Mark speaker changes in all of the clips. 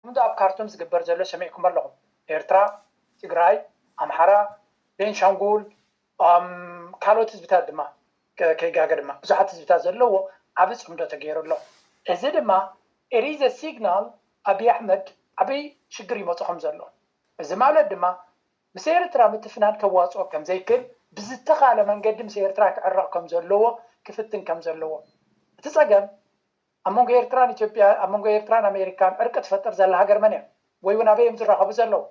Speaker 1: ከምቲ ኣብ ካርቱም ዝግበር ዘሎ ሰሚዕኩሞ ኣለኹም ኤርትራ ትግራይ ኣምሓራ ቤንሻንጉል ኦኣም ካልኦት ህዝብታት ድማ ከይጋገ ድማ ብዙሓት ህዝብታት ዘለዎ ዓቢ ጽምዶ ተገይሩ ኣሎ እዚ ድማ ኢሪዘ ሲግናል ኣቢይ ኣሕመድ ዓቢ ሽግር ይመጾ ከምዘሎ እዚ ማለት ድማ ምስ ኤርትራ ምትፍናን ከዋጽኦ ከምዘይክል ብዝተኻለ መንገዲ ምስ ኤርትራ ክዕረቕ ከምዘለዎ ክፍትን ከምዘለዎ እቲ ጸገም ኣብ መንጎ ኤርትራን ኢትዮጵያ ኣብ መንጎ ኤርትራን ኣሜሪካን ዕርቂ ትፈጥር ዘላ ሃገር መን እያ ወይ ውን ኣበይ እዮም ዝራከቡ ዘለዉ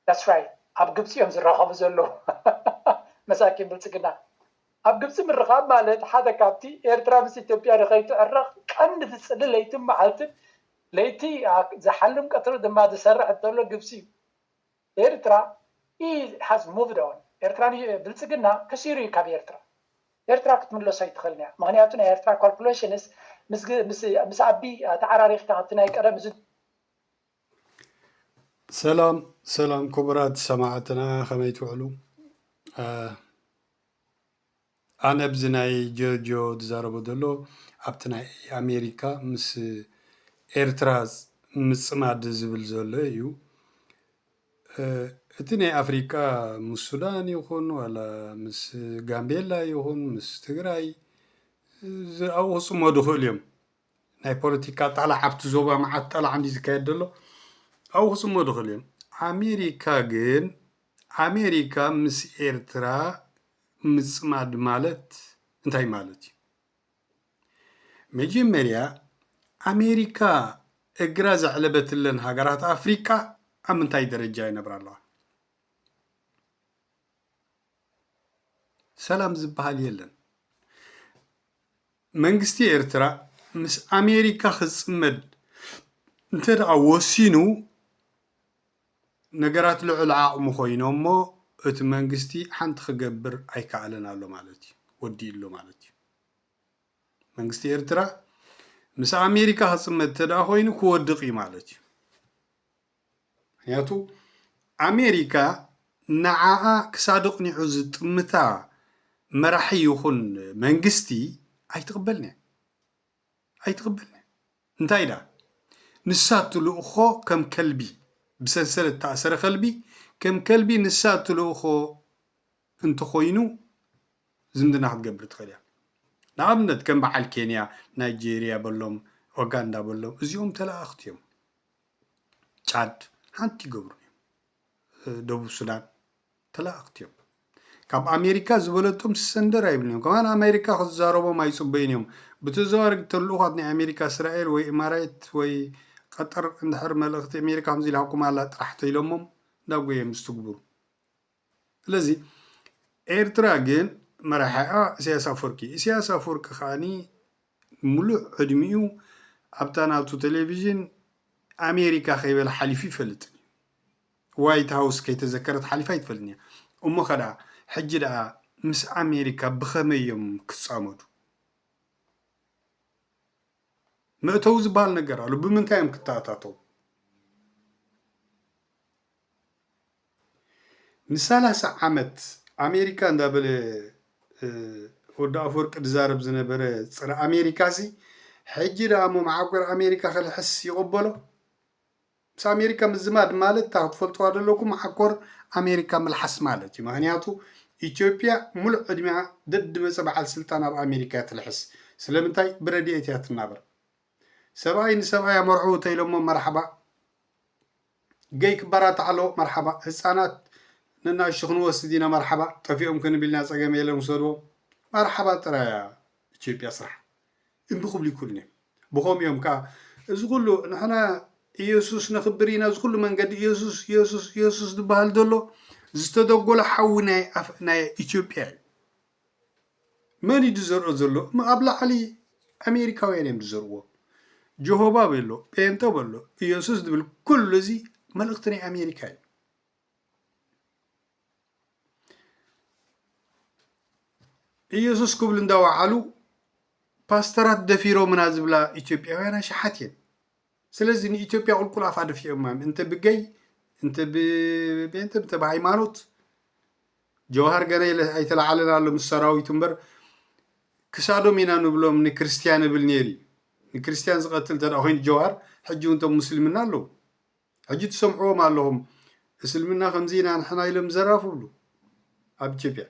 Speaker 1: that's right ኣብ ግብጺ እዮም ዝራከቡ ዘለዉ መሳኪን ብልጽግና ኣብ ግብጺ ምርኻብ ማለት ሓደ ካብቲ ኤርትራ ምስ ኢትዮጵያ ንከይትዕረቅ ቀንዲ ዝጽሊ ለይትን መዓልትን ለይቲ ዝሓልም ቀትሪ ድማ ዝሰርሕ እተሎ ግብጺ እዩ ኤርትራ ኢዝ ሃዝ ሙቭድ ኦን ኤርትራ ን ብልጽግና ከሲሩ ኢዩ ካብ ኤርትራ ኤርትራ ክትምለሶ ኣይትኽእልን ኢያ ምኽንያቱ ናይ ኤርትራ ካልኩለሽንስ ምስ ምስ ኣቢ ተዓራሪኽካ ካብቲ ናይ ቀደም እዚ
Speaker 2: ሰላም ሰላም ክቡራት ሰማዕትና ከመይ ትውዕሉ ኣነ ብዚ ናይ ጀርጆ ዝዛረቦ ዘሎ ኣብቲ ናይ ኣሜሪካ ምስ ኤርትራ ምጽማድ ዝብል ዘሎ ኢዩ እቲ ናይ ኣፍሪቃ ምስ ሱዳን ይኹን ዋላ ምስ ጋምቤላ ይኹን ምስ ትግራይ ኣብኡ ክጽመዱ ይኽእሉ ኢዮም። ናይ ፖለቲካ ጠላዕ ኣብቲ ዞባ መዓት ጠላዕ እንድዩ ዝካየድ ዘሎ ኣብኡ ክፅመዱ ይኽእሉ እዮም ኣሜሪካ ግን ኣሜሪካ ምስ ኤርትራ ምፅማድ ማለት እንታይ ማለት እዩ መጀመርያ ኣሜሪካ እግራ ዘዕለበትለን ሃገራት ኣፍሪቃ ኣብ ምንታይ ደረጃ ይነብራ ኣለዋ ሰላም ዝበሃል የለን መንግስቲ ኤርትራ ምስ ኣሜሪካ ክጽመድ እንተድኣ ወሲኑ ነገራት ልዑል ዓቕሚ ኮይኖሞ እቲ መንግስቲ ሓንቲ ክገብር ኣይከኣለን ኣሎ ማለት እዩ ወዲኡ ኣሎ ማለት እዩ መንግስቲ ኤርትራ ምስ ኣሜሪካ ክጽመድ እንተድኣ ኮይኑ ክወድቕ እዩ ማለት እዩ። ምክንያቱ ኣሜሪካ ንዓኣ ክሳድ ኣቕኒዑ ዝጥምታ መራሒ ይኹን መንግስቲ ኣይትቕበልን እያ። ኣይትቕበልን እያ። እንታይ ደኣ ንሳ እትልእኮ ከም ከልቢ ብሰንሰለት እተኣሰረ ከልቢ ከም ከልቢ ንሳ እትልእኮ እንተኾይኑ ዝምድና ክትገብር ትኽእል እያ። ንኣብነት ከም በዓል ኬንያ፣ ናይጀርያ በሎም፣ ኦጋንዳ በሎም እዚኦም ተለኣኣኽቲ እዮም። ጫድ ሓንቲ ይገብሩ እዮም። ደቡብ ሱዳን ተላእኽቲ እዮም። ካብ ኣሜሪካ ዝበለቶም ሰንደር ኣይብልን እዮም። ከማን ኣሜሪካ ክዛረቦም ኣይፅበዩን እዮም። ብተዘዋዋሪ ተልእኳት ናይ ኣሜሪካ እስራኤል ወይ ኢማራይት ወይ ቀጠር እንድሕር መልእኽቲ ኣሜሪካ ከምዚ ኢልሃኩም ኣላ ጥራሕ ተኢሎሞም እንዳጎየም ዝትግብሩ ስለዚ ኤርትራ ግን መራሒኣ ኢሳያስ ኣፍወርቂ እዩ። ኢሳያስ ኣፍወርቂ ከኣ ሙሉእ ዕድሚኡ ኣብታ ናቱ ቴሌቪዥን ኣሜሪካ ከይበለ ሓሊፉ ኣይፈልጥን እዩ። ዋይት ሃውስ ከይተዘከረት ሓሊፋ ኣይትፈልጥን እያ። እሞ ከደኣ ሕጂ ደኣ ምስ ኣሜሪካ ብኸመይ እዮም ክጻመዱ? መእተዊ ዝበሃል ነገር ኣሎ። ብምንታይ እዮም ክተኣታተው? ንሳላሳ ዓመት ኣሜሪካ እንዳበለ ወዲ ኣፈወርቂ ድዛረብ ዝነበረ ጽረ ኣሜሪካ'ዚ ሕጂ ደኣ እሞ መዓቆር ኣሜሪካ ክልሕስ ይቕበሎ? ምስ ኣሜሪካ ምዝማድ ማለት እታ ክትፈልጥዋ ዘለኩም መዓኮር ኣሜሪካ ምልሓስ ማለት እዩ። ምክንያቱ ኢትዮጵያ ሙሉእ ዕድሚኣ ደድመጸ በዓል ስልጣን ኣብ ኣሜሪካ እያ ትልሕስ። ስለምንታይ ብረድኤት እያ ትናበር። ሰብኣይ ንሰብኣይ ኣመርዕዉ ተኢሎሞ መርሓባ ገይ ክባራታዕ ኣለዎ መርሓባ። ህጻናት ንናኣሽቱ ክንወስድ ኢና መርሓባ ጠፊኦም ክንብል ኢና ጸገም የለን ውሰድዎም መርሓባ ጥራይ እያ ኢትዮጵያ ስራሕ እምቢ ክብሉ ይክእሉን እዮም ብከምኡ እዮም ከኣ እዚ ኩሉ ንሕና ኢየሱስ ነኽብር ኢና እዚ ኩሉ መንገዲ ኢየሱስ ኢየሱስ ኢየሱስ ዝበሃል ዘሎ ዝተደጎለ ሓዊ ናይ ኢትዮጵያ እዩ መን እዩ ዝዘርኦ ዘሎ እሞ ኣብ ላዕሊ ኣሜሪካውያን እዮም ዝዘርዎ ጆሆባ በሎ ጴንጠ በሎ ኢየሱስ ዝብል ኩሉ እዚ መልእኽቲ ናይ ኣሜሪካ እዩ ኢየሱስ ክብሉ እንዳወዓሉ ፓስተራት ደፊሮምና ዝብላ ኢትዮጵያውያን ኣሽሓት እየን ስለዚ ንኢትዮጵያ ቁልቁል ኣፋ ደፊኦማ እንተ ብገይ እንተ ብቤንተ እንተ ብሃይማኖት ጀውሃር ገና ኣይተላዓለን ኣሎ ምስ ሰራዊቱ እምበር ክሳዶም ኢና ንብሎም ንክርስትያን እብል ነይሩ እዩ ንክርስትያን ዝቐትል እንተ ኮይኑ ጀውሃር ሕጂ እውን እቶም ሙስልምና ኣለዉ ሕጂ ትሰምዕዎም ኣለኹም እስልምና ከምዚ ኢና ንሕና ኢሎም ዘራፍ ብሉ ኣብ ኢትዮጵያ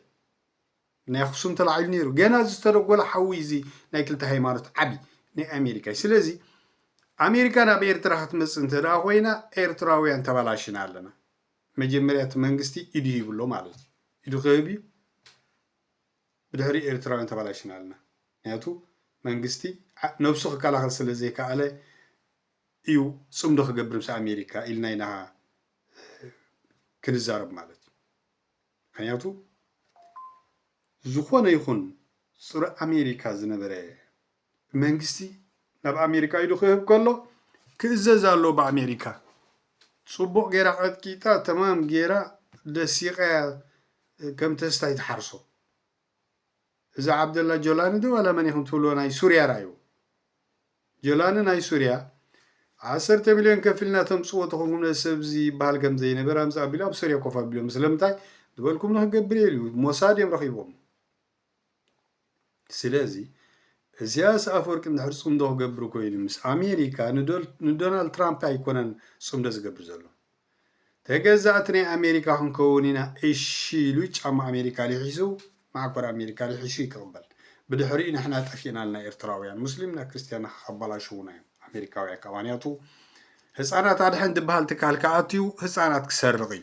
Speaker 2: ናይ ኣክሱም ተላዒሉ ነይሩ ገና እዚ ዝተደጎለ ሓዊ እዚ ናይ ክልተ ሃይማኖት ዓብዪ ናይ ኣሜሪካ እዩ ስለዚ ኣሜሪካ ናብ ኤርትራ ክትመፅእ እንተ ደኣ ኮይና ኤርትራውያን ተባላሽና ኣለና መጀመርያ እቲ መንግስቲ ኢዱ ይብሎ ማለት እዩ ኢዱ ክህብ እዩ ብድሕሪ ኤርትራውያን ተባላሽና ኣለና ምክንያቱ መንግስቲ ነብሱ ክከላኸል ስለ ዘይከኣለ እዩ ፅምዶ ክገብር ምስ ኣሜሪካ ኢልና ኢና ክንዛረብ ማለት እዩ ምክንያቱ ዝኾነ ይኹን ጹረ ኣሜሪካ ዝነበረ መንግስቲ ናብ ኣሜሪካ ኢዱ ክህብ ከሎ ክእዘዝ ኣለዎ ብኣሜሪካ። ጽቡቕ ጌራ ቀጥቂጣ ተማም ጌራ ደሲቓያ ከም ተስታይ ትሓርሶ። እዚ ዓብደላ ጆላኒ ዶ ዋላ መን ኢኹም ትብልዎ ናይ ሱርያ ራዩ ጆላኒ ናይ ሱርያ ዓሰርተ ሚልዮን ከፊልና ተምጽዎ ተኾንኩም ነዚ ሰብ እዚ ይበሃል ከም ዘይነበር ኣምጽ ኣቢሉ ኣብ ሱርያ ኮፍ ኣቢሎም ስለምንታይ ዝበልኩም ንክገብር እየ ኢሉ ሞሳድ እዮም ረኺቦም ስለዚ እዚያስ ኣፈወርቂ እንድሕር ጽምዶ ክገብር ኮይኑ ምስ ኣሜሪካ ንዶናልድ ትራምፕ ኣይኮነን ጽምዶ ዝገብር ዘሎ ተገዛእቲ ናይ ኣሜሪካ ክንከውን ኢና እሺ ኢሉ ጫማ ኣሜሪካ ሊሒሱ ማዓኮር ኣሜሪካ ሊሒሱ ይክቅበል ብድሕሪኡ ንሕና ጠፊእና ኣልና ኤርትራውያን ሙስሊምና ክርስትያና ከከባላሽውና እዮም ኣሜሪካውያን ካባንያቱ ህጻናት ኣድሕን ድበሃል ትካል ክኣትዩ ህጻናት ክሰርቅ እዩ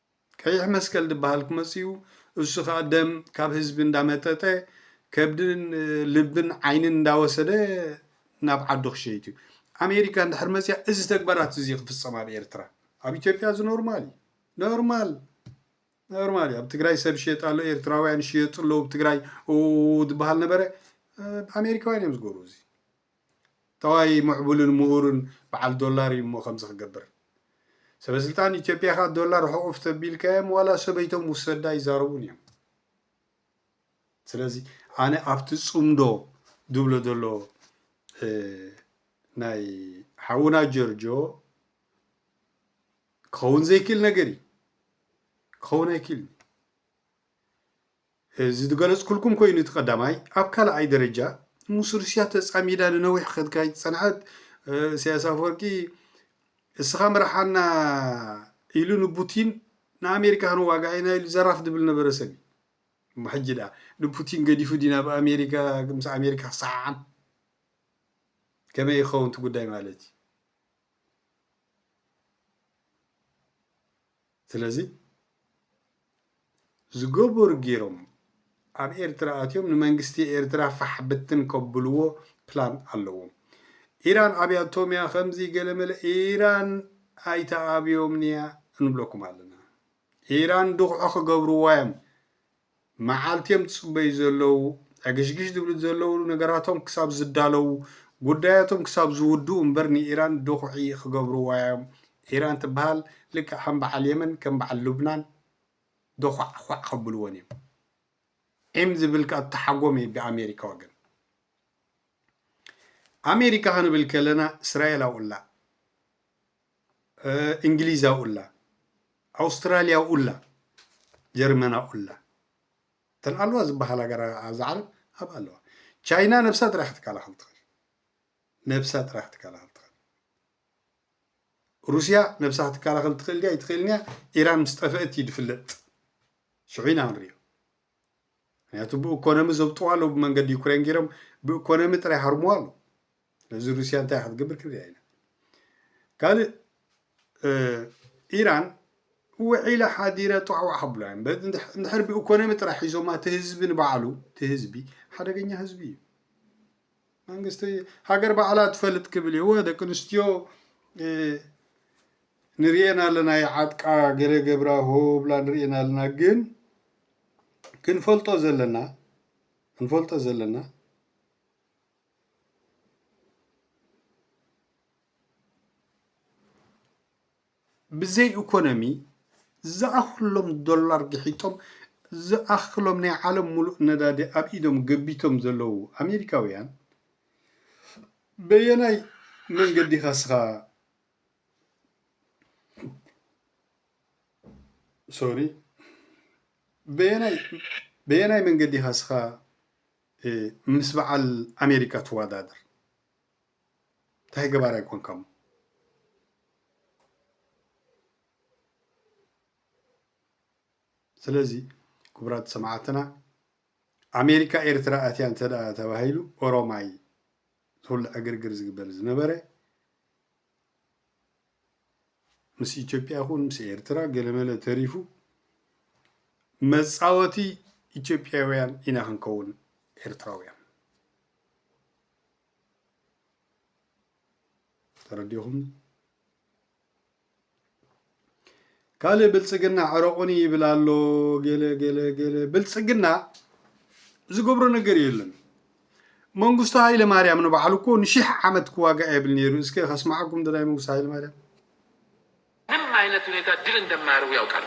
Speaker 2: ቀይሕ መስቀል ድበሃል ክመጽኡ እሱ ከኣ ደም ካብ ህዝቢ እንዳመጠጠ ከብድን ልብን ዓይንን እንዳወሰደ ናብ ዓዱ ክሸይት እዩ ኣሜሪካ እንድሕር መጽያ እዚ ተግባራት እዚ ክፍጸም ኣብ ኤርትራ ኣብ ኢትዮጵያ እዚ ኖርማል እዩ ኖርማል ኖርማል እዩ ኣብ ትግራይ ሰብ ሽየጥ ኣሎ ኤርትራውያን ሽየጡ ኣለዉ ኣብ ትግራይ ድበሃል ነበረ ኣሜሪካውያን እዮም ዝገብሩ እዚ ጠዋይ ሙዕቡልን ሙኡሩን በዓል ዶላር እዩ እሞ ከምዚ ክገብር። ሰበስልጣን ኢትዮጵያ ከ ዶላር ሑቁፍ ተቢልካዮም ዋላ ሰበይቶም ውሰዳ ይዛረቡን እዮም። ስለዚ ኣነ ኣብቲ ጽምዶ ዝብሎ ዘሎ ናይ ሓውና ጀርጆ ክኸውን ዘይክእል ነገር እዩ ክኸውን ኣይክእልን እዚ ዝገለጽኩልኩም ኮይኑ እቲ ቀዳማይ ኣብ ካልኣይ ደረጃ ምስ ሩስያ ተጻሚዳ ንነዊሕ ከትካይድ ዝጸንሐት እሰያስ ኣፍወርቂ እስኻ ምርሓና ኢሉ ንቡቲን ንኣሜሪካ ክንዋጋእ ኢና ኢሉ ዘራፍ ድብል ነበረ ሰብ እዩ እሞ ሕጂ ድኣ ንፑቲን ገዲፉ ድዩ ናብ ኣሜሪካ ምስ ኣሜሪካ ክሰዓዓም ከመይ እዩ ክኸውን እቲ ጉዳይ ማለት እዩ ስለዚ ዝገበሩ ጌሮም ኣብ ኤርትራ ኣትዮም ንመንግስቲ ኤርትራ ፋሕ ብትን ከብልዎ ፕላን ኣለዎም። ኢራን ኣብያቶም እያ ከምዚ ገለመለ ኢራን ኣይትኣብዮምንያ እንብለኩም ኣለና። ኢራን ድኹዒ ክገብርዋ እዮም መዓልቲ እዮም ዝጽበዩ ዘለዉ፣ ዕግሽግሽ ዝብሉ ዘለዉ ነገራቶም ክሳብ ዝዳለዉ፣ ጉዳያቶም ክሳብ ዝውድኡ እምበር ንኢራን ድኹዒ ክገብርዋ እዮም። ኢራን ትበሃል ልክዕ ከም በዓል የመን ከም በዓል ሉብናን ዶዃዕዃዕ ከብልወን እዮም። ዒም ዝብል ከኣ ተሓጎመ እዩ ብኣሜሪካ ወገን። ኣሜሪካ ክንብል ከለና እስራኤል ኣብኡላ እንግሊዛ ኡላ ኣውስትራልያ ኡላ ጀርመና ኡላ እተን ኣለዋ ዝበሃል ሃገራ ኣብዛ ዓለም ኣብ ኣለዋ ቻይና ነብሳ ጥራሕ ክትከላኸል ትኽእል ነብሳ ጥራሕ ክትከላኸል ትኽእል ሩስያ ነብሳ ክትከላኸል ትኽእል ድያ ኣይትኽእልን እያ ኢራን ምስ ጠፍእት እዩ ዝፍለጥ ሽዑ ኢና ክንሪኦ ምክንያቱ ብኢኮኖሚ ዘብጥዋ ኣለዉ ብመንገዲ ዩክሬን ገይሮም ብኢኮኖሚ ጥራይ ሃርምዋ ኣለዉ ስለዚ ሩስያ እንታይ ክትገብር ክንሪኣ ኢና ካልእ ኢራን ውዒለ ሓዲረ ጧዕዋዕ ሓብላ እዮም እንድሕር ብኢኮኖሚ ጥራሕ ሒዞማ እቲ ህዝቢ ንባዕሉ እቲ ህዝቢ ሓደገኛ ህዝቢ እዩ መንግስቲ ሃገር ባዕላ ትፈልጥ ክብል እዎ ደቂ ኣንስትዮ ንሪኤን ኣለና ይዓጥቃ ገለ ገብራ ሆብላ ንሪኤን ኣለና ግን ክንፈልጦ ዘለና ክንፈልጦ ዘለና ብዘይ ኢኮኖሚ ዝኣኽሎም ዶላር ግሒጦም ዝኣኽሎም ናይ ዓለም ሙሉእ ነዳዲ ኣብ ኢዶም ገቢቶም ዘለዉ ኣሜሪካውያን በየናይ መንገዲ ኢኻ እስኻ ሶሪ በየናይ በየናይ መንገዲ ኢኻ እስኻ ምስ በዓል ኣሜሪካ ትወዳደር እንታይ ገባር ኣይኮንካ ሞ ስለዚ ክቡራት ሰማዕትና ኣሜሪካ ኤርትራ ኣትያ እንተ ተባሂሉ ኦሮማይ ተውልዐ ግርግር ዝግበር ዝነበረ ምስ ኢትዮጵያ ይኹን ምስ ኤርትራ ገለመለ ተሪፉ መፃወቲ ኢትዮጵያውያን ኢና ክንከውን ኤርትራውያን ተረዲኹም ካልእ ብልፅግና ዕረቑኒ ይብል ኣሎ ገለ ገለ ገለ ብልፅግና ዝገብሮ ነገር የለን መንግስቱ ሃይለ ማርያም ንባዕሉ እኮ ንሽሕ ዓመት ክዋጋእ የብል ነይሩ እስከ ከስማዓኩም ድናይ መንግስቱ ሃይለ ማርያም ምንም አይነት
Speaker 3: ሁኔታ ድል እንደማያደርጉ ያውቃሉ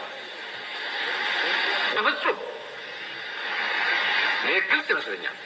Speaker 3: በፍጹም ይህ ግልጽ ይመስለኛል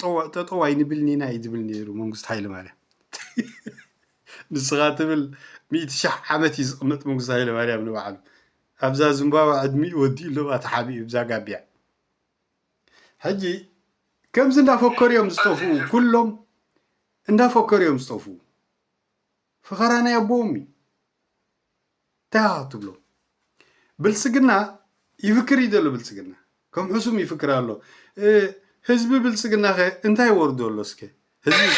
Speaker 2: ጠዋእ ጠጠው ኣይንብልን ኢና እዩ ዝብል ነይሩ መንግስቱ ሃይለማርያም ንስኻ ትብል ሚእቲ ሽሕ ዓመት እዩ ዝቕመጥ መንግስቱ ሃይለማርያም ንባዕሉ ኣብዛ ዝምባባ ዕድሚኡ ወዲኡ ኣለዋ ተሓቢኡ ብዛ ጋቢያ ሕጂ ከምዚ እንዳፈከሩ እዮም ዝጠፍኡ ኩሎም እንዳፈከሩ እዮም ዝጠፍኡ ፈኸራ ናይ ኣቦዎም እዩ እንታይ ኢኻ ትብሎ ብልፅግና ይፍክር እዩ ዘሎ ብልፅግና ከም ሕሱም ይፍክር ኣሎ ህዝቢ ብልፅግና ከ እንታይ ወርዶ ኣሎ እስከ ህዝቢ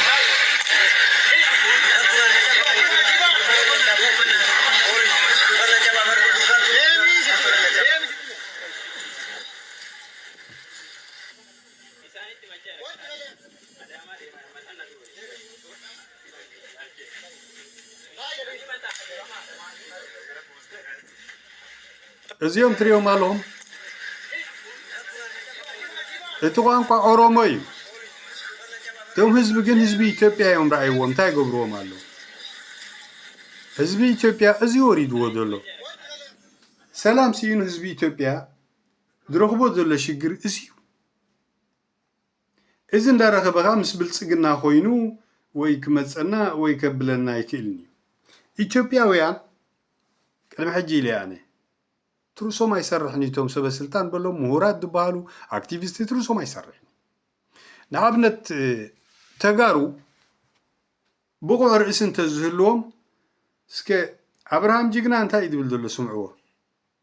Speaker 2: እዚኦም ትሪኦም ኣለኹም እቲ ቋንቋ ኦሮሞ እዩ። እቶም ህዝቢ ግን ህዝቢ ኢትዮጵያ እዮም ረኣይዎም እንታይ ገብርዎም ኣሎ ህዝቢ ኢትዮጵያ እዚ ወሪድዎ ዘሎ ሰላም ስኢኑ ህዝቢ ኢትዮጵያ ዝረኽቦ ዘሎ ሽግር እዚዩ። እዚ እንዳረኸበ ከኣ ምስ ብልጽግና ኮይኑ ወይ ክመጸና ወይ ከብለና ኣይክእልንዩ። ኢትዮጵያውያን ቅድሚ ሕጂ ኢለያ ኣነ ትርእሶም ኣይሰርሕንዩ እቶም ሰበስልጣን በሎም ምሁራት ዝበሃሉ ኣክቲቪስት ትርእሶም ኣይሰርሕን። ንኣብነት ተጋሩ ብቑዕ ርእሲ እንተዝህልዎም እስከ ኣብርሃም ጅግና እንታይ እዩ ዝብል ዘሎ ስምዕዎ።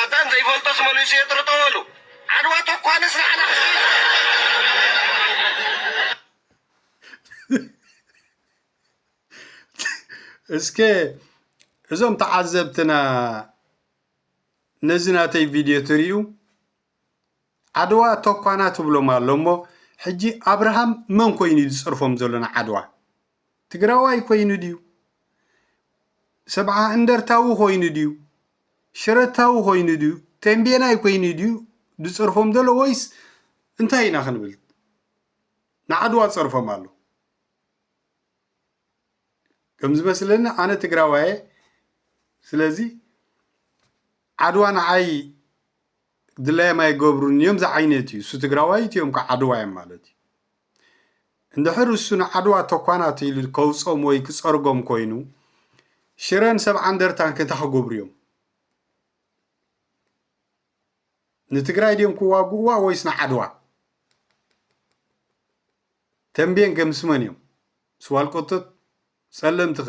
Speaker 4: ኣባን ዘይፈልጦስ መሊሱ የጥርጦ በሉ ዓድዋ ተኳንስ ንዓና
Speaker 2: እስከ እዞም ተዓዘብትና ነዚ ናተይ ቪድዮ ትርዩ ዓድዋ ተኳና ትብሎም ኣሎ እሞ ሕጂ ኣብርሃም መን ኮይኑ እዩ ዝፅርፎም ዘሎ ንዓድዋ ትግራዋይ ኮይኑ ድዩ? ሰብዓ እንደርታዊ ኮይኑ ድዩ? ሽረታዊ ኮይኑ ድዩ? ቴምቤናይ ኮይኑ ድዩ ዝጸርፎም ዘሎ ወይስ እንታይ ኢና ክንብል? ንዓድዋ ጸርፎም ኣሎ ከም ዝመስለኒ ኣነ ትግራዋየ ስለዚ ዓድዋ ንዓይ ድላዮም ኣይገብሩን እዮም ዝዓይነት እዩ እሱ ትግራዋይ እትዮም እኮ ዓድዋ እዮም ማለት እዩ እንድሕር እሱ ንዓድዋ ተኳናት ኢሉ ከውፆም ወይ ክፀርጎም ኮይኑ ሽረን ሰብዓ እንደርታን ክንታ ክገብሩ እዮም ንትግራይ ድዮም ክዋግእዋ ወይስ ንዓድዋ ተንቤን ገምስመን እዮም ስዋልቆቶት ፀለምትኸ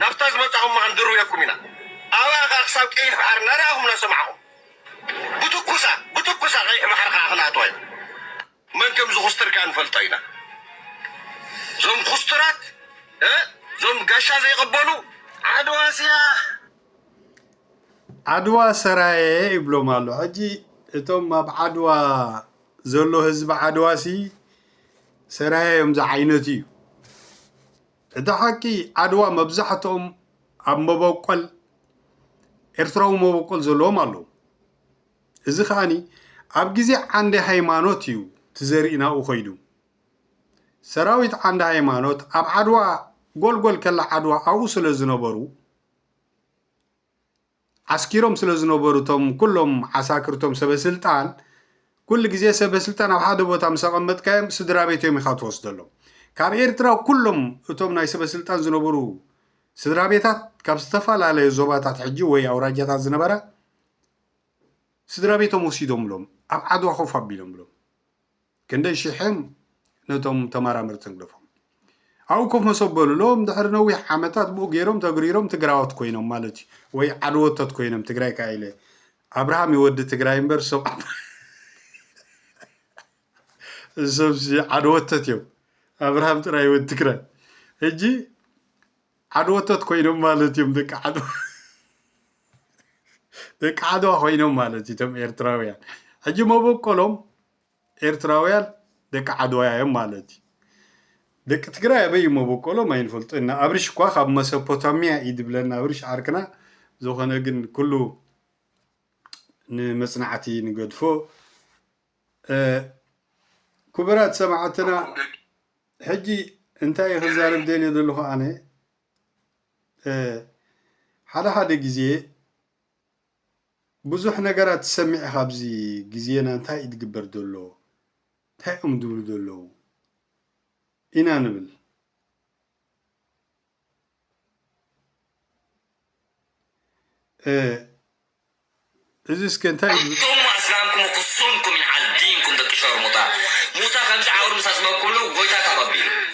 Speaker 4: ናብታ ዝመጻኹማ ክንድርብየኩም ኢና ኣብኣ ከኣ ክሳብ ቀይሕ ባሕሪ እናረኣኹም እናሰማዕኹም ብትኩሳ ብትኩሳ ቀይሕ ባሕሪ ከኣ ክንኣትዋ ኢና። መን ከም ዝኹስትር ከኣ ንፈልጦ ኢና ዞም ኩስቱራት ዞም ጋሻ ዘይቅበሉ። ዓድዋ ስያህ
Speaker 2: ዓድዋ ሰራየ ይብሎም ኣሎ ሕጂ እቶም ኣብ ዓድዋ ዘሎ ህዝቢ ዓድዋ ሲ ሰራየ እዮም ዝዓይነቱ እዩ። እቲ ሓቂ ዓድዋ መብዛሕትኦም ኣብ መበቆል ኤርትራዊ መበቆል ዘለዎም ኣለዉ። እዚ ከኣ ኣብ ግዜ ዓንደ ሃይማኖት እዩ እቲ ዘርኢ ናብኡ ከይዱ። ሰራዊት ዓንደ ሃይማኖት ኣብ ዓድዋ ጎልጎል ከላ ዓድዋ ኣብኡ ስለ ዝነበሩ፣ ዓስኪሮም ስለ ዝነበሩ እቶም ኩሎም ዓሳክር እቶም ሰበስልጣን ኩሉ ግዜ ሰበስልጣን ኣብ ሓደ ቦታ ምስ ኣቐመጥካዮም ስድራቤት እዮም ኢኻ ትወስደሎም ካብ ኤርትራ ኩሎም እቶም ናይ ሰበስልጣን ዝነበሩ ስድራቤታት ካብ ዝተፈላለዩ ዞባታት ሕጂ ወይ ኣውራጃታት ዝነበራ ስድራቤቶም ወሲዶምሎም ኣብ ዓድዋ ኮፍ ኣቢሎምሎም ክንደይ ሽሕን ነቶም ተማራመርቲ ንግደፎም ኣብኡ ኮፍ መሶብ በሉሎም ድሕሪ ነዊሕ ዓመታት ብኡ ገይሮም ተግሪሮም ትግራዎት ኮይኖም ማለት እዩ ወይ ዓድወቶት ኮይኖም ትግራይ ከዓ ኢለ ኣብርሃም ይወዲ ትግራይ እምበር ሰብ ሰብዚ ዓድወቶት እዮም ኣብርሃም ጥራይ ይወዲ ትግራይ ሕጂ ዓድወቶት ኮይኖም ማለት እዮም ደቂ ዓድዋ ደቂ ዓድዋ ኮይኖም ማለት እዩ እቶም ኤርትራውያን ሕጂ መበቆሎም ኤርትራውያን ደቂ ዓድዋያ እዮም ማለት እዩ ደቂ ትግራይ ኣበይ መቦቆሎም ኣይንፈልጦ ኢና ኣብርሽ እኳ ካብ መሰፖታምያ እዩ ድብለና ኣብርሽ ዓርክና ዝኾነ ግን ኩሉ ንመጽናዕቲ ንገድፎ ኩቡራት ሰማዕትና ሕጂ እንታይ እዩ ክዛረብ ደልየ ዘለኹ ኣነ ሓደ ሓደ ግዜ ብዙሕ ነገራት ትሰምዕ ኢኻ ኣብዚ ግዜና እንታይ እዩ ዝግበር ዘሎ እንታይ እዮም ዝብሉ ዘለዉ ኢና ንብል እዚ እስከ እንታይ እዩ ዝብል ኣንቱም ኣስላምኩም
Speaker 5: ኩሱምኩም ይዓል ዲንኩም ደቂ ሸርሙጣ ሙሳ ከምዚ ዓውር ምስ ኣጽበብኩምሉ ጎይታ ተቐቢሉ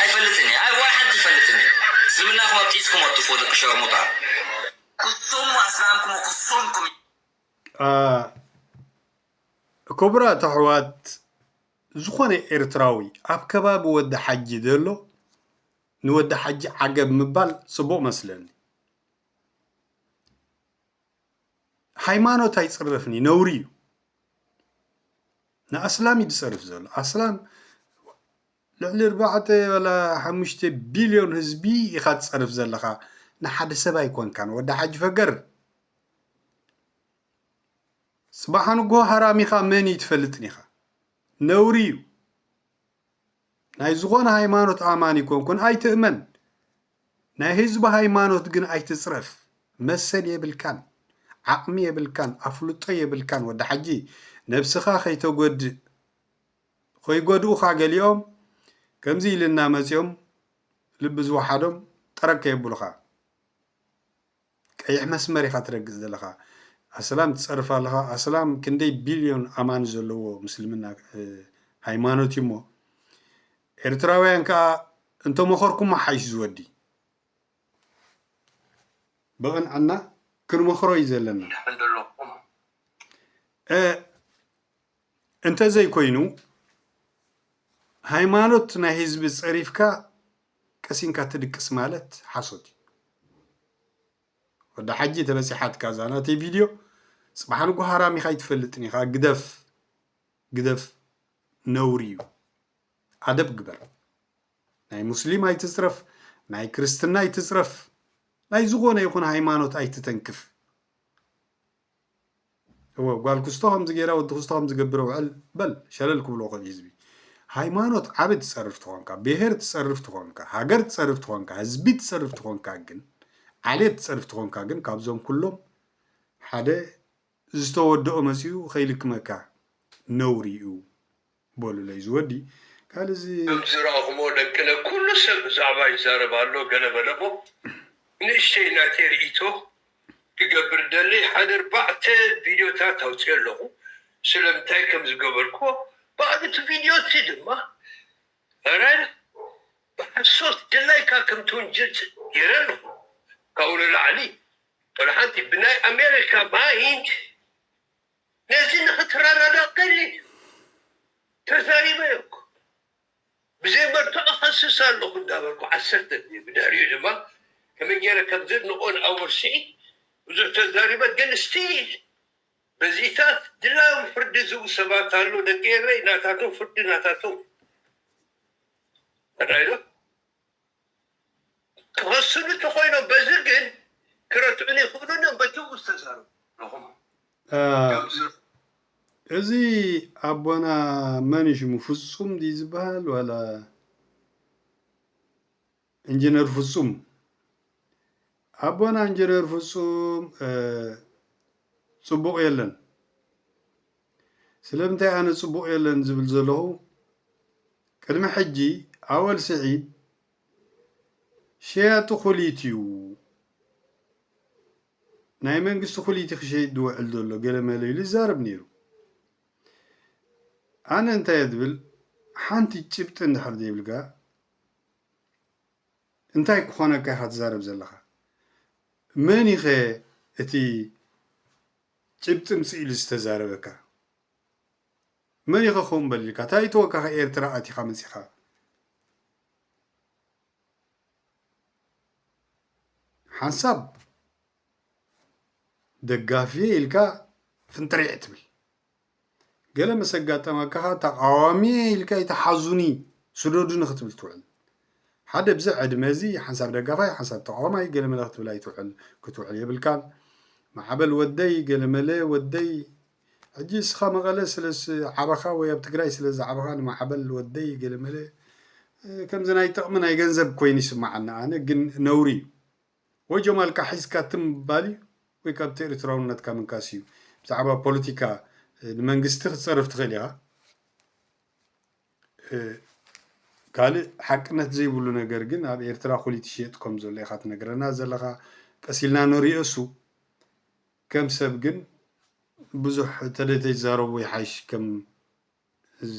Speaker 5: ኣይፈልጥን እየ ኣይ ዋላ ሓንቲ ይፈልጥን እየ ዝብላኩም ኣብ ጢጽኩም ኣትፉ ደቂ ሸርሙጣ። ኩሱሙ ኣስላምኩሙ ኩሱምኩም።
Speaker 2: ክቡራት ኣሕዋት ዝኾነ ኤርትራዊ ኣብ ከባቢ ወዲ ሓጂ ዘሎ ንወዲ ሓጂ ዓገብ ምባል ጽቡቅ መስለኒ ሃይማኖት ኣይጽረፍን እዩ ነውሪ እዩ ንኣስላም እዩ ዝጸርፍ ዘሎ ኣስላም ልዕሊ ኣርባዕተ ዋላ ሓሙሽተ ቢልዮን ህዝቢ ኢኻ ትጸርፍ ዘለኻ ንሓደ ሰብ ኣይኮንካን ወዲ ሓጂ ፈገር ጽባሕ ንግሆ ሃራሚኻ መን እዩ ትፈልጥን ኢኻ ነውሪ እዩ ናይ ዝኾነ ሃይማኖት ኣማኒ ኮንኩን ኣይትእመን ናይ ህዝቢ ሃይማኖት ግን ኣይትጽረፍ መሰል የብልካን ዓቅሚ የብልካን ኣፍልጦ የብልካን ወዲ ሓጂ ነብስኻ ከይተጎድእ ኾይጎድኡኻ ገሊኦም ከምዚ ኢልና መጺኦም ልቢ ዝወሓዶም ጠረግ ከየብሉኻ። ቀይሕ መስመር ኢኻ ትረግጽ ዘለኻ ኣስላም ትጸርፍ ኣለኻ ኣስላም ክንደይ ቢልዮን ኣማኒ ዘለዎ ምስልምና ሃይማኖት እዩ እሞ ኤርትራውያን ከኣ እንተመኸርኩሞ ሓይሽ ዝወዲ ብቕንዕና ክንመኽሮ እዩ ዘለና እንተዘይኮይኑ ሃይማኖት ናይ ህዝቢ ፀሪፍካ ቀሲንካ ትድቅስ ማለት ሓሶት እዩ። ወዲ ሓጂ ተበጺሓትካ እዛ ናተይ ቪድዮ ጽባሕ ንጎ ሃራም ኢኻ ኣይትፈልጥን ኢኻ ግደፍ ግደፍ ነውሪ እዩ ኣደብ ግበር ናይ ሙስሊም ኣይትጽረፍ ናይ ክርስትና ኣይትጽረፍ ናይ ዝኾነ ይኹን ሃይማኖት ኣይትተንክፍ እወ ጓል ክስቶ ከምዚ ገይራ ወዲ ክስቶ ከምዚ ገብረ ውዕል በል ሸለል ክብሎ ኮን ህዝቢ ሃይማኖት ዓቢ ትጸርፍ ትኾንካ ብሄር ትጸርፍ ትኾንካ ሃገር ትጸርፍ ትኾንካ ህዝቢ ትጸርፍ ትኾንካ ግን ዓሌት ትጸርፍ ትኾንካ ግን ካብዞም ኩሎም ሓደ ዝተወደኦ መጺኡ ከይልክመካ ነውሪ እዩ በሉለይ ዝወዲ ካልእ እዚ። ከም ዝረኣኹሞ
Speaker 6: ደቅነ ኩሉ ሰብ ብዛዕባ ይዛረብ ኣሎ ገለ በለ'ሞ ንእሽተይ ናተይ ርኢቶ ክገብር ደሊ ሓደ ኣርባዕተ ቪድዮታት ኣውጺኤ ኣለኹ ስለምንታይ ከም ዝገበርክዎ ባዕሉ እቲ ቪድዮ እቲ ድማ ራይል ብሓሶት ደላይካ ከም ትውንጅል ጌረ ኣለኹ ካብኡ ንላዕሊ ወላ ሓንቲ ብናይ ኣሜሪካ ማይንድ ነዚ ንክትረዳዳእ ክደሊ ድዩ? ተዛሪበ እኮ ብዘይ መርትዖ እኸስስ ኣለኹ እንዳበልኩ ዓሰርተ ግዜ ብድሕሪኡ ድማ ከመይ ጌረ ከም ዘድንቖ ንኣወል ስዒድ ብዙሕ ተዛሪበ ግን ስቲል በዚታት ድላዮም ፍርዲ ዝህቡ ሰባት ኣለው ደቂ ኤረይ ናታቶም ፍርዲ ናታቶም እዩ። ኣርኣይዶ? ክወስኑ እንተኾይኖም በዚ ግን ክረትዑኒ ይኽእሉን እዮም በቲ እው ዝተዛረቡ ኣለኹም
Speaker 2: ከምዚ እዚ ኣቦና መን እዩ ሽሙ ፍጹም ድዩ ዝበሃል ዋላ ኢንጂነር ፍጹም ኣቦና ኢንጂነር ፍጹም ጽቡቕ የለን ስለምንታይ ኣነ ጽቡቕ የለን ዝብል ዘለኹ ቅድሚ ሕጂ ኣወል ስዒድ ሸያጢ ኩሊት እዩ ናይ መንግስቲ ኩሊቲ ክሸይጥ ዝውዕል ዘሎ ገለ መለ ኢሉ ይዛረብ ነይሩ ኣነ እንታይ ዝብል ሓንቲ ጭብጢ እንድሕር ዘይብልካ እንታይ ክኾነካ ኢኻ ትዛረብ ዘለኻ መን ኢኸ እቲ ጭብጢ ምጽእ ኢሉ ዝተዛረበካ መን ኢኸ ከምኡ በል ኢልካ ታይ ተወካኺ ኤርትራ ኣቲኻ መጺኻ ሓንሳብ ደጋፊ ኢልካ ፍንጥሪዕ ትብል ገለ ምስ ኣጋጠመካ ኸኣ ተቓዋሚ'የ ኢልካ እዩ ተሓዙኒ ስደዱኒ ክትብል ትውዕል። ሓደ ብዚ ዕድመ እዚ ሓንሳብ ደጋፋይ ሓንሳብ ተቓዋማይ ገለመለ ክትብል ኣይትውዕል ክትውዕል የብልካን። ማዕበል ወደይ ገለመለ ወደይ ሕጂ እስኻ መቐለ ስለ ዝዓበኻ ወይ ኣብ ትግራይ ስለ ዝዓበኻ ንማዕበል ወደይ ገለመለ ከምዚ ናይ ጥቕሚ ናይ ገንዘብ ኮይኑ ይስምዓኒ ኣነ ግን ነውሪ እዩ። ወይ ጀማልካ ሒዝካ ትም ምባል እዩ ወይ ካብቲ ኤሪትራውነትካ ምንካስ እዩ ብዛዕባ ፖለቲካ ንመንግስቲ ክትጸርፍ ትኽእል ኢኻ ካልእ ሓቅነት ዘይብሉ ነገር ግን ኣብ ኤርትራ ኩሊት ይሽየጥ ከም ዘሎ ኢኻ ትነግረና ዘለኻ ቀሲልና ንሪኦ እሱ ከም ሰብ ግን ብዙሕ ተደተይዛረቡ ይሓይሽ ከም እዚ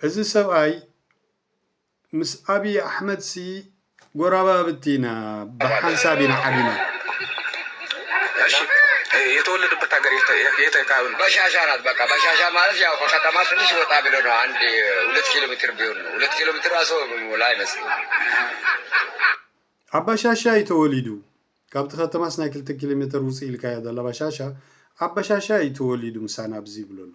Speaker 2: እዚ ሰብኣይ ምስ ኣብዪ ኣሕመድሲ ጎረባብቲ ኢና፣ ብሓንሳብ ኢና ዓቢና። የተወለደበት ሀገር የት አካባቢ ነው? በሻሻ ናት። በቃ በሻሻ
Speaker 7: ማለት ያው ከከተማ
Speaker 8: ትንሽ ወጣ ብሎ ነው። አንድ ሁለት ኪሎ ሜትር ቢሆን ነው። ሁለት ኪሎ ሜትር ራሱ ሞላ አይመስልም።
Speaker 2: ኣብ ባሻሻ እዩ ተወሊዱ ካብቲ ከተማስ ናይ ክልተ ኪሎ ሜትር ውፅእ ኢልካ እያ ዘላ ባሻሻ ኣብ ባሻሻ እዩ ተወሊዱ ምሳና ኣብዚ ይብሎ ኣሎ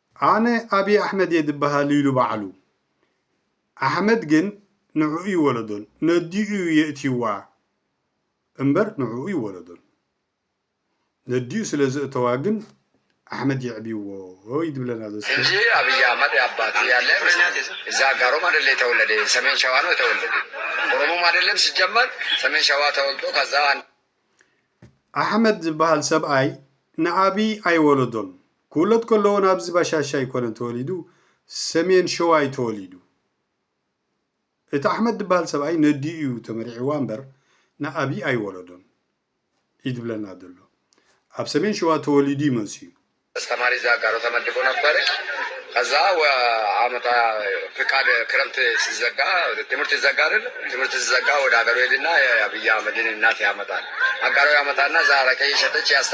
Speaker 2: ኣነ ኣብይ ኣሕመድ እየ ድበሃል ኢሉ ባዕሉ ኣሕመድ ግን ንዕኡ ይወለዶን ነዲኡ እዩ የእትይዋ እምበር ንዕኡ ይወለዶን ነዲኡ ስለ ዘእተዋ ግን ኣሕመድ የዕብይዎ እዩ ድብለና ዘሎ እስከ። እንጂ አብይ አህመድ
Speaker 8: አባቱ ያለ አይመስለኝም። እዛ አጋሮም አደለ የተወለደ ሰሜን ሸዋ ነው የተወለደ ኦሮሞም አደለም ሲጀመር ሰሜን ሸዋ ተወልዶ ከዛ አንድ ኣሕመድ
Speaker 2: ዝበሃል ሰብኣይ ንኣብይ ኣይወለዶን ክውለድ ከሎ ውን ኣብዚ ባሻሻ ኣይኮነን ተወሊዱ ሰሜን ሸዋ ዩ ተወሊዱ እቲ ኣሕመድ ድበሃል ሰብኣይ ነዲኡ ዩ ተመሪዕዋ እምበር ንኣብይ ኣይወለዶን ኢዩ ድብለና ደሎ ኣብ ሰሜን ሸዋ ተወሊዱ ዩ መጽዩ ኣስተማሪ እዛ
Speaker 8: ጋሮ ተመድቡ ነበር ከዛ ዓመታ ፍቃድ ክረምት ስዘጋ ትምህርት ይዘጋርል ትምህርት ስዘጋ ወደ ሀገሩ ሄድና የኣብይ ኣህመድን እናት ያመጣል ኣጋሮ ያመጣና እዛ ኣረቄ እየሸጠች ያስተ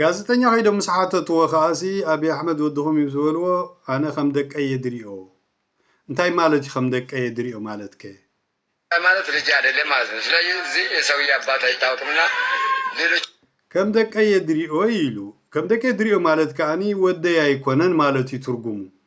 Speaker 8: ጋዜጠኛ ከይዶም
Speaker 2: ምስ ሓተትዎ ከኣሲ ኣቢይ ኣሕመድ ወድኹም እዩ ዝበልዎ ኣነ ከም ደቀይ እየ ዝሪኦ። እንታይ ማለት እዩ ከም ደቀይ እየ ዝሪኦ ማለት ከ? እንታይ ማለት
Speaker 8: ልጄ ኣደሌ ማለት ነው ስለዚ እዚ ሰውዬ ኣባቱ ኣይታወቅም
Speaker 2: እና ሌሎች። ከም ደቀይ እየ ዝሪኦ ኢሉ። ከም ደቀይ ዝሪኦ ማለት ከኣ ወደይ ኣይኮነን ማለት እዩ ትርጉሙ።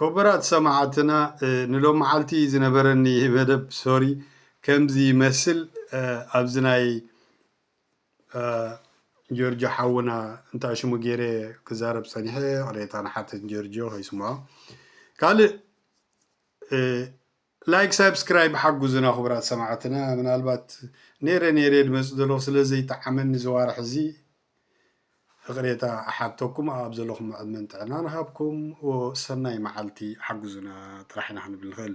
Speaker 2: ኩቡራት ሰማዓትና ንሎማዓልቲ ዝነበረኒ መደብ ሶሪ ከምዚ ይመስል ኣብዚ ናይ ጆርጆ ሓውና እንታይ ሽሙ ጌሬ ክዛረብ ጸኒሐ ይቕሬታ ንሓትት ጆርጆ ከይስምዖ ካልእ ላይክ ሳብስክራይብ ሓጉዙና ኩቡራት ሰማዕትና ምናልባት ነይረ ነይረ ድመጽእ ዘለኩ ስለ ዘይጠዓመኒ እዚ ዋርሕ እዚ እቅሬታ እሓተኩም ኣኣብ ዘለኩሞ ዕድመን ጥዕናን እሃብኩም እዎ ሰናይ መዓልቲ ሓጉዙና ጥራሕ ኢና ክንብል ንክእል።